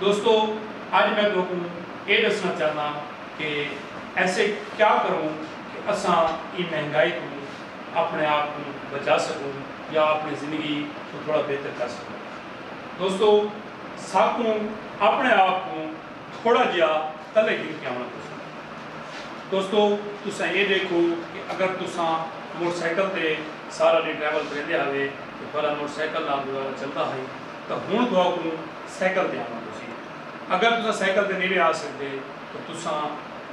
دوستو اج میں تہاکوں ایہ ڈسنا چاہنداں کہ ایسے کیا کروں کہ اساں ایں مہنگائی توں اپنے آپ کوں بچا سکوں یا اپنی زندگی کوں تھوڑا بہتر کر سکوں۔ دوستو ساکوں اپنے آپ کوں تھوڑا جیہا تلے گھن کے آوݨا پوسی۔ دوستو تساں ایہ ڈیکھو کہ اگر تساں موٹر سائیکل تے سارا ڈینہہ ٹریول کریندے ہاوے تاں تہاڈا موٹر سائیکل نال گزارا چلدا ہئی۔ تاں ہݨ تہاکوں سائیکل تے آوݨا پوسی۔ اگر تساں سائیکل تے نیڑے آ سڳدے تاں تساں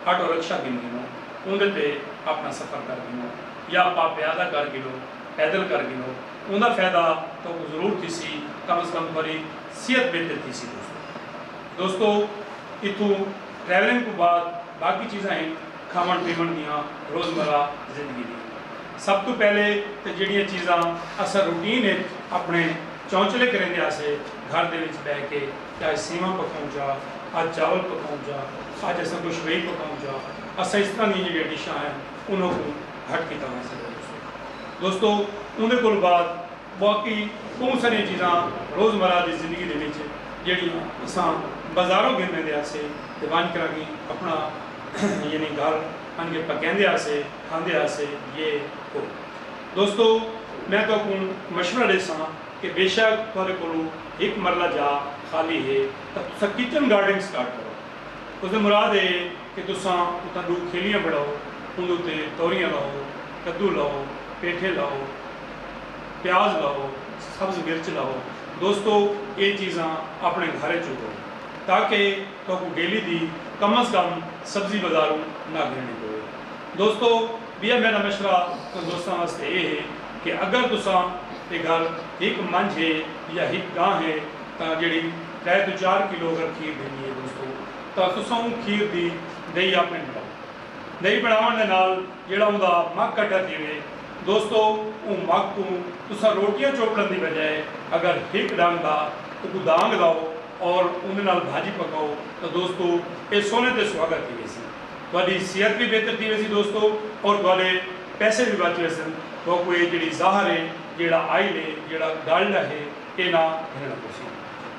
آٹو رکشہ گھن گھنو، اوندے تے آپݨا سفر کر گھنو یا اپا پیادہ کر گھنو، پیدل کر گھنو، اوندا فیدہ تہاکوں ضرور تھیسی، کم از کم تہاݙی صحت بہتر تھیسی دوستو۔ دوستو اتھوں ٹریولنگ توں بعد باقی چیزاں ہن کھاوݨ پیوݨ دیاں روزمرہ زندگی دیاں۔ سب توں پہلے تاں جیڑھیاں چیزاں اساں روٹین اچ اپݨے۔ چونچلے کریندے آسے گھر دے وچ بہہ کے کہ اج سیواں پکاؤں چا، اج چاول پکاؤں چا، اج اساں کجھ وئی پکاؤں چا، اساں اس طرح دیاں جیڑھیاں ڈشاں ہن انہاں کوں گھٹ کیتا ونج سگدے تساں دوستو اوندے کولوں بعد باقی بہوں ساریاں چیزاں روز مرہ دی زندگی دے وچ جیڑھیاں اساں بازاروں گھن ویندے آسے تے ونج کراں کیں اپنا یعنی گھر آن کے پکیندے آسے کھاندے آسے یہ وہ۔ دوستو میں تہاکوں مشورہ ݙیساں کہ بیشک تہاݙے کولوں ہک مرلہ جاء خالی ہے تاں تساں کچن گارڈنگ سٹارٹ کرو۔ اس دی مراد ایہ ہے کہ تساں اتھاں ݙو کھیلیاں بݨاؤ، اوندے اتے توریاں لاؤ، کدو لاؤ، پیٹھے لاؤ، پیاز لاؤ، سبز مرچ لاؤ۔ دوستو ایہ چیزاں آپݨے گھر اچ اگاؤ تاکہ تہاکوں ڈیلی دی کم از کم سبزی بازاروں نہ گھنݨی پوے۔ دوستو! ٻیا میݙا مشورہ تساں دوستاں واسطے ایہ ہے کہ اگر تساں دے گھر ہک منجھ ہے یا ہک ڳاں ہے تاں جیڑھی ترے توں چار کلو اگر کھیر ݙیندی ہے دوستو تاں تساں اوں کھیر دی ݙہی آپݨی بݨاؤ۔ ݙہی بݨاوݨ دے نال جیڑھا اوندا مڳھ کٹھا تھیوے دوستو اوں مڳھ کوں تساں روٹیاں چوپڑݨ دی بجائے اگر ہک ݙنگ دا اکوں دانگ لاؤ اور اوندے نال بھاڄی پکاؤ تاں دوستو ایہ سونے تے سہاڳا تھی ویسی۔ تہاڈی صحت وی بہتر تھی ویسی دوستو اور تہاڈے پیسے وی بچ ویسن تہاکوں اے جیڑھی زہر اے جیڑھا آئل اے جیڑھا گلڈ اہے اے نہ گھنڑنا پوسی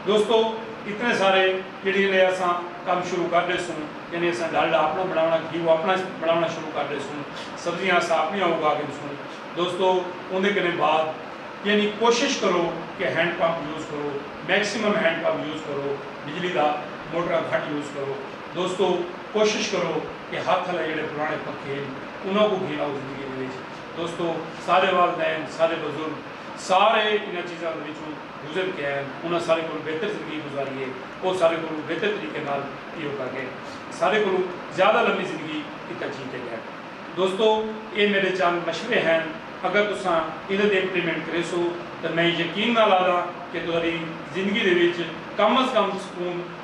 دوستو اتنے سارے جیڑھی الے اساں کم شروع کر ڈیسوں یعنی اساں گلڈ آپنا بنڑاونا گھیو آپنا بنڑاونا شروع کر ڈیسوں سبزیاں اساں آپنیاں اگا گھنسوں دوستو اوندے کنے بعد یعنی کوشش کرو کہ ہینڈ پمپ یوز کرو میکسیمم ہینڈ پمپ یوز کرو بجلی دا موٹراں گھٹ یوز کرو۔ دوستو کوشش کرو کہ ہتھ الے جیڑھے پرانے پکھے ہن انہاں کوں گھن آؤ زندگی دے وچ دوستو سارے والدین سارے بزرگ سارے انہاں چیزاں دے وچوں گزر کے آئے ہن انہاں سارے کولوں بہتر زندگی گزاری ہے او سارے کولوں بہتر طریقے نال ایہو کر گئے سارے کولوں زیادہ لمبی زندگی کیتا جی تے گئے دوستو ایہ میڈے چند مشورے ہن اگر تساں انہاں دی امپلیمنٹ کریسو تاں میں یقین نال آہداں کہ تہاڈی زندگی دے وچ کم از کم سکون